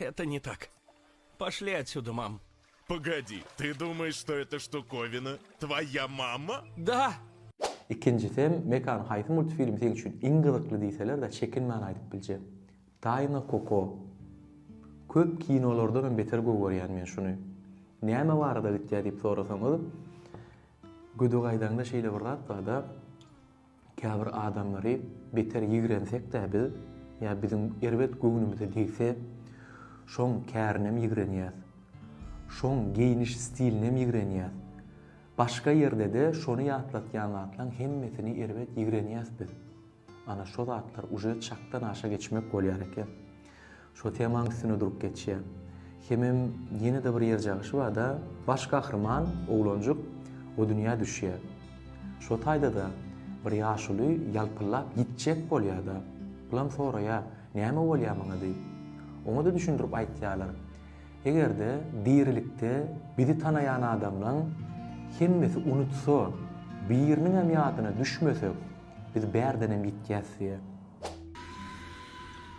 Eto ne tak. Poşli otsuda mam. Pogodi, ty dumaýş što eta štukovina tvoýa mama? Da! Ikinjisem Mekan haýsy multfilm seň üçin iň gyzykly diýselerde çekinmän aýdyp biljek. Taýna Koko. Köp kinolardan hem beter gögerýän men şuny. Näme barada gitýä diýip sorasaňyz Gödek aýdaňda şeýle bir zat barda. Käbir adamlary beter ýigrensekdä biz, ýa biziň erbet göwnümize degse, şoň kärinem ýigrenýäs. Şoň geýniş stilinem ýigrenýäs. Başga ýerde-de şony ýatlatýan zatlaň hemmesini erbet ýigrenýäs biz. Ana şo zatlar uje çakdan aşa geçmek bolýar eken. Şo temaň üstüne durup geçýä. Hemem ýene-de bir ýer cagyşy barda baş gahryman oglanjyk o dünýä düşýä. Şo taýda-da bir ýaşuly ýalpyllap ýitjek bolýa-da, bulam soraýa, näme bolýa maňa diýip. Oňa-da düşündirip aýtýalar. Eger-de dirilikde bizi tanaýan adamlaň hemmesi unutsa, biriniňem ýadyna düşmesek, biz bärdenem ýitýäs diýä.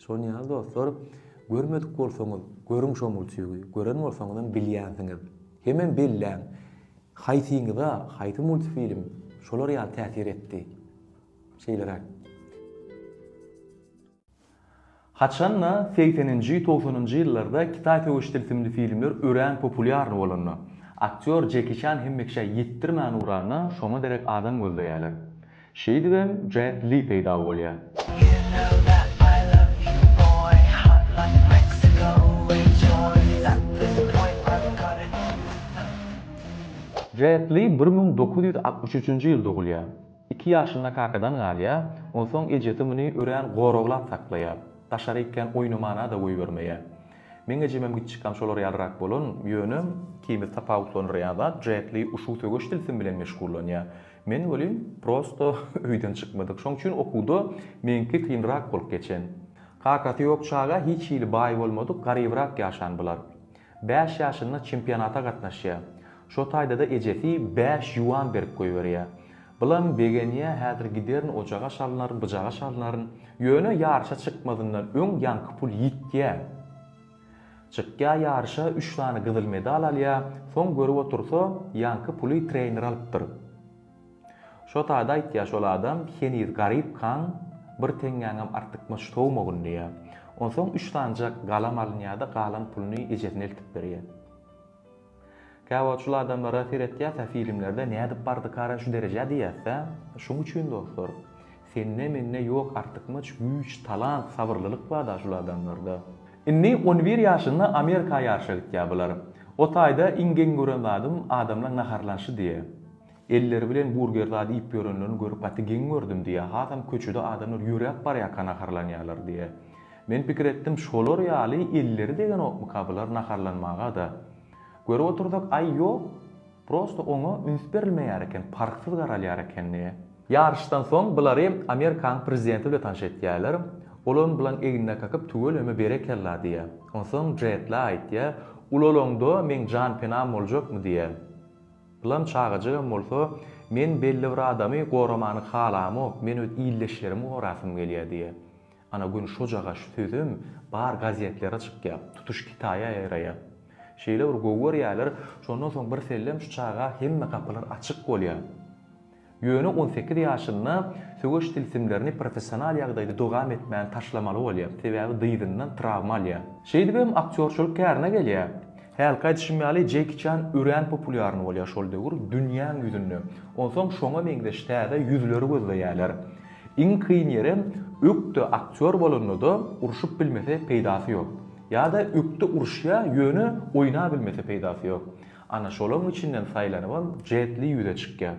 Şonuň ýaly dostlar, görmedik bolsaňyz, görüň şo multfigi, gören bolsaňyzam bilýänsiňiz. Hemem belläň, haýsyňyza, haýsy multfilm şolar ýaly täsir etdi. Şeýleräk. Haçan-da, segseninji, togsanynjy ýyllarda kitaý söweş tilsimli filmler örän populýarny bolanda, aktýor Jeki Çan hemmeşä ýetdirmän ugranda, şoňa derek adam gözleýärler. Şeýdibem Jet Li peýda bolýar. Jet Li bir müň dokuz ýüz altmyş üçünji ýyl dogulýar. Iki ýaşynda kakadan galýar, onsoň ejesi muny örän goraglap saklaýar. Daşary ikän oýnamana-da goýbermeýär. Meň ejemem giçjikam şolar ýalyrak bolan, ýöne ikimizi tapawutlandyrýan zat Jet Li uşu söweş tilsimi bilen meşgullanýar. Men welin prosto öýden çykmadyk. Şoň üçin okuwda meňki kynrak bolup geçen. Kakasy ýok çaga hiç hili baý bolmadyk, garybrak ýaşan bular. Bäş ýaşynda çempionata gatnaşýa. Şo taýda-da ejesi bäş ýuan berip goýberýä. Bilan begenýä häzir giderin ojaga çalynaryn, byjaga çalynaryn. Ýöne ýaryşa çykmazyndan öň ýaňky pul ýitýä. Çykýa ýaryşa üç sany gyzyl medal alýa soň görüp otursa ýaňky puly trener alypdyr. Şo sada aýtýa şol adam heniz garyp kaň bir teňňäňem artykmaç sowmagyn diýä. Onsoň üç sanjak galam alynýada galan puluny ejesine eltip berýä. Käwagt şul adamlara seretýäsä filimlerde nädip bardykara şu derejä diýäsä şuň üçin dostlar sende mende ýok artykmaç güýç talant sabyrlylyk barda şul adamlarda. Indi on bir ýaşynda Amerika ýaryşa gitýä bular. Otaýda iň geň gören zadym adamlaň naharlanşy diýä. Elleri bilen burger zady iýip ýörenlerini görüp gaty geň gördüm, diýýär. Hasam köçede adamlar ýöräp barýarka naharlanýarlar, diýýär. Men pikir etdim, şolar ýaly elleri degenokmyka bular naharlanmaga-da? Görüp otursak, aý, ýok, prosto oňa üns berilmeýär eken, parhsyz garalýar eken, diýýär. Ýaryşdan soň bulary Amerikanyň prezidenti bilen tanyş etýärler. Ol onuň bularyň egnine kakyp, tüweleme berekella, diýýär. Onsoň Jetle aýtýar, Ulalaňda meň jan-penam boljakmy, diýýär. Ýylan çagajygam bolsa, Men belli bir adamy goramany halamok, men öz ildeşlerimi gorasym gelýär diýýär. Ana, Gün şojagaz şu sözem bar gazetlere çykýar, tutuş Kitaýa ýaýraýar. Şeýle bir gowy görýärler, şondan soň birsellem şu çaga hemme gapylar açyk bolýar. Ýöne on sekiz ýaşynda söweş tilsimlerini professional ýagdaýda dowam etmän taşlamaly bolýar, sebäbi dyzyndan trawma alýar. Şeýdibem aktýorçylyk kärine gelýär. Hälki aýdyşym ýaly Jeki Çan örän populýarny bolýar şol döwür dünýäň ýüzünde. Onsoň şoňa meňzeş täze ýüzleri gözleýärler. Iň kyn ýerem ökde aktýor bolanda-da urşup bilmese peýdasy ýok. Ýa-da ökde uruşýar ýöne oýnabilmese peýdasy ýok. Ana şolaň içinden saýlanybam Jet Li ýüze çykýar.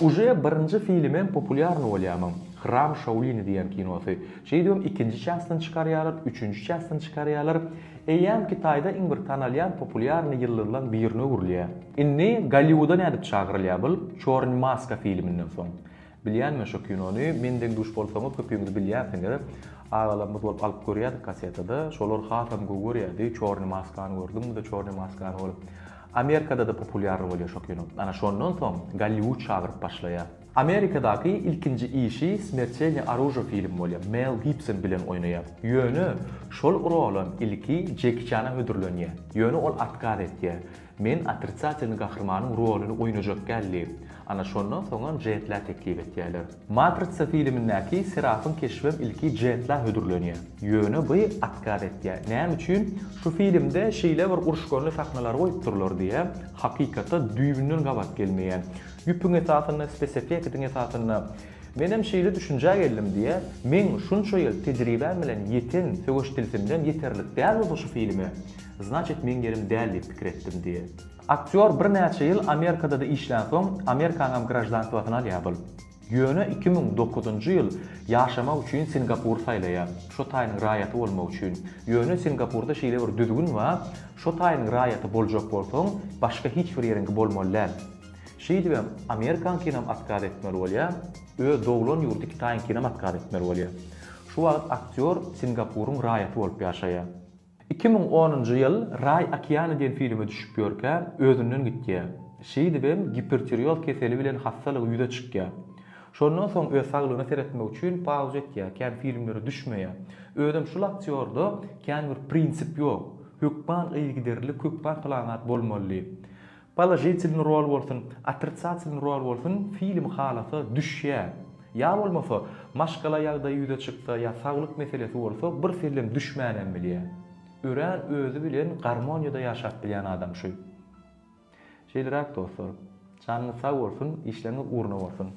Uje birinji filimem populýarny bolýamyň, Hram Şaolini diýen kinosy. Şeýdibem ikinji çastyny çykarýarlar, üçünji çastyny çykarýarlar. Eýýäm Kitaýda iň bir tanalýan populýarny ýyldyzlaň birine öwrülýär. Indi Golliwuda nädip çagyrylýar bul Çorny maska filiminden soň? Bilýänmi şo kinony men deň duş bolsaňyz köpüňiz bilýänsiňiz agalarymyz bolup alyp görýädik kasetada şolar hasam gowy görýädi çorny maskany gördüňmizde çorny maskany bolup Amerikadada populýarly bolýa şo kino ana şondan soň Golliwud çagyryp başlaýa. Amerikadaky ilkinji işi Smertelne Aružo film bolýa Mel Gibson bilen oýnaýa ýöne şol rolam ilki Jeki Çana hödürlenýä ýöne ol otkaz etýä Men otritsatelny gahrymanyň roluny oýnajak däl diýip, ana şondan soňam Jetla teklip etýärler. Matritsa filimindäki Serafyň keşbem ilki Jetla hödürlenýär. Ýöne by otkaz etýär. Näme üçin? Şu filimde şeýle bir uruşganly sahnalar goýupdyrlar diýä, hakykata düýbünden gabat gelmeýän. Ýüpüň esasynda, spesefektiň esasynda. Menem şeýle düşünjä geldim diýä. Meň şunça ýyl tejribäm bilen ýeten söweş tilsimden ýeterlik dälbolsa şu filme. Znaçit meň ýerim däl diýip pikir etdim diýýär. Aktýor birnäçe ýyl Amerikada-da işlänsoň, Amerikanyňam graždanstwasyny alýar bul. Ýöne iki müň dokuzynjy ýyl ýaşamak üçin Singapury saýlaýar, şo taýynyň raýaty bolmak üçin. Ýöne Singapurda şeýle bir düzgün bar, şo taýynyň raýaty boljak bolsaň, başga hiç bir ýeriňki bolmaly däl. Şeýdibem Amerikaňkynam atkaz etmeli bolýar, öz doglan ýurdy Kitaýyňkynam atkaz etmeli bolýar. Şu wagt aktýor Singapuryň raýaty bolup ýaşaýar. Iki müň onunjy ýyl Raý okeany diýen filme düşüp ýörkä, özünden gitýär. Şeýdibem, gipertirioz keseli bilen hassalygy ýüze çykýar. Şondan soň öz saglygyna seretmek üçin pauza etýär, kän filmlere düşmeýär. Özem şul aktýorda kän bir prinsip ýok. Hökman yzygiderlilik, hökman plan zat bolmaly diýip. Položitilny rol bolsun, otricatilny rol bolsun film halasa düşýä. Ýa bolmasa, maşgala ýagdaýy ýüze çyksa ýa saglyk meselesi bolsa bir sellem düşmänem bilýä. Örän özi bilen garmoniýada ýaşap bilýän adam şu. Şeýleräk dostlar. Janyňyz sag bolsun, işleriňiz ugruna bolsun.